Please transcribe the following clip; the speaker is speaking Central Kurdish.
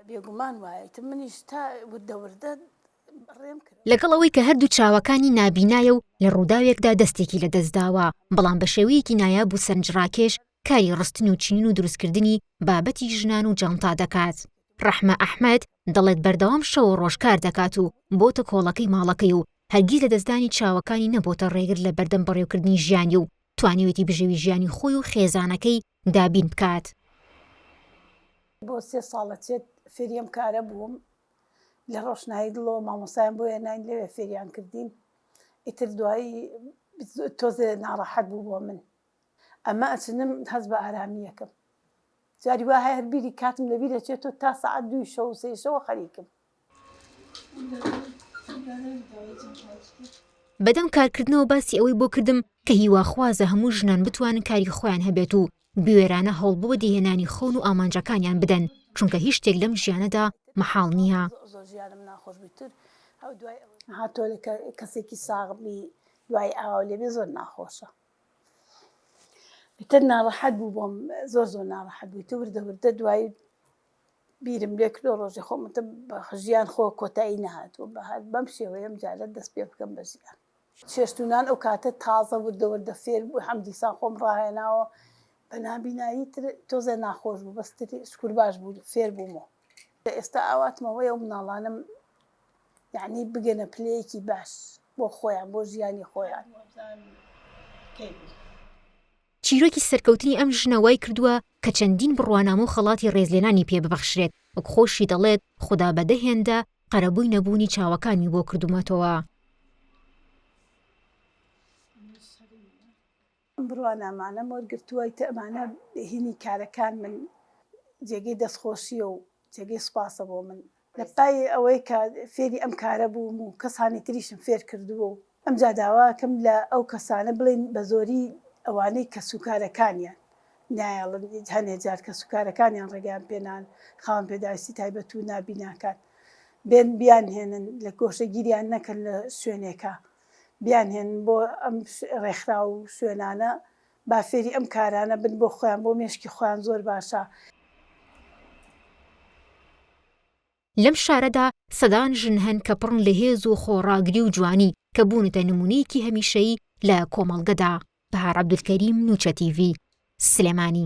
بێگومان وایەتی منیش تا وردە وردە ڕێم کرد. لەگەڵ ئەوەی کە هەردوو چاوەکانی نابینایە و لە ڕووداوێکدا دەستێکی لەدەستداوە، بەڵام بە شێوەیەکی نایاب و سەرنجڕاکێش کاری ڕستن و چنین و دروستکردنی بابەتی ژنان و جانتا دەکات. ڕەحمە ئەحمەد دەڵێت بەردەوام شەو و ڕۆژ کار دەکات و بۆتە کۆڵەکەی ماڵەکەی و هەرگیز لەدەستدانی چاوەکانی نەبۆتە ڕێگر لە بەردەم بەڕێوکردنی ژیانی و توانیویەتی بژێوی ژیانی خۆی و خێزانەکەی دابین بکات. بۆ سێ ساڵ لە چێت فێری ئەم کارە بووم، لە ڕۆشنایی دڵەوە مامۆستایان بۆ هێناین لەوێ فێریان کردین، ئیتر دوایی تۆزێ ناڕەحەت بوو بۆ من ئەمە، ئەچنم هەست بە ئارامییەکەم، جاری وا هەیە هەر بیری کاتم لەبیر ئەچێت و تا سەعات دووی شەو و سێی شەوە خەریکم. بەدەم کارکردنەوە باسی ئەوەی بۆ کردم کە هیواخوازە هەموو ژنان بتوانن کاری خۆیان هەبێت و بوێرانە هەوڵ بۆ بەدیهێنانی خەون و ئامانجەکانیان بدەن چونکە هیچ شتێک لەم ژیانەدا مەحاڵ نییە. بیرم لێ کردووە ڕۆژێ خۆم وتم بە ژیان خۆ کۆتایی نەهاتووە بە هەر بەم شێوەیە ئەم جارە دەست پێ بکەم بە ژیان. چێشت و نان ئەو کاتە تازە وردە وردە فێر بوو هەم دیسان خۆم ڕاهێناوە بە نابینایی تر تۆزێ ناخۆش بوو بەس تر شکور باش بوو فێر بووم و لە ئێستا ئاواتم ئەوەیە و مناڵانم یەعنی بگەنە پلەیەکی باش بۆ خۆیان بۆ ژیانی خۆیان. چیرۆکی سەرکەوتنی ئەم ژنە وای کردووە کە چەندین بڕوانامە و خەڵاتی ڕێزلێنانی پێ ببەخشرێت، وەک خۆشی دەڵێت، خودا بە دە هێندە قەرەبووی نەبوونی چاوەکانمی بۆ کردوومەتەوە. ئەم بڕوانامانەم وەرگرتووە کە ئەمانە بێهینی کارەکانمن، جێگەی دەستخۆشییە و جێگەی سوپاسە بۆ من. لە پای ئەوەی کە فێری ئەم کارە بووم و کەسانی تریشم فێر کردووە و ئەمجا داوا ئەکەم لە ئەو کەسانە بڵێن بە زۆری ئەوانەی کەسوکارەکانیان نایەڵن هەنێ جار کەسوکارەکانیان ڕێگەیان پێ نان خاوەن پێداویستی تایبەت و نابیناکان بێن بیانهێنن لە گۆشەگیریان نەکەن لە شوێنێکا بیانهێنن بۆ ئەم ڕێکخراو و شوێنانە با فێری ئەم کارانە بن بۆ خۆیان بۆ مێشکی خۆیان زۆر باشە. لەم شارەدا سەدان ژن هەن کە پڕن لە هێز و خۆڕاگری و جوانی کە بوونەتە نموونەیەکی هەمیشەیی لە کۆمەڵگەدا. بەهار عەبدولکەریم نوچە تیڤی، سلێمانی.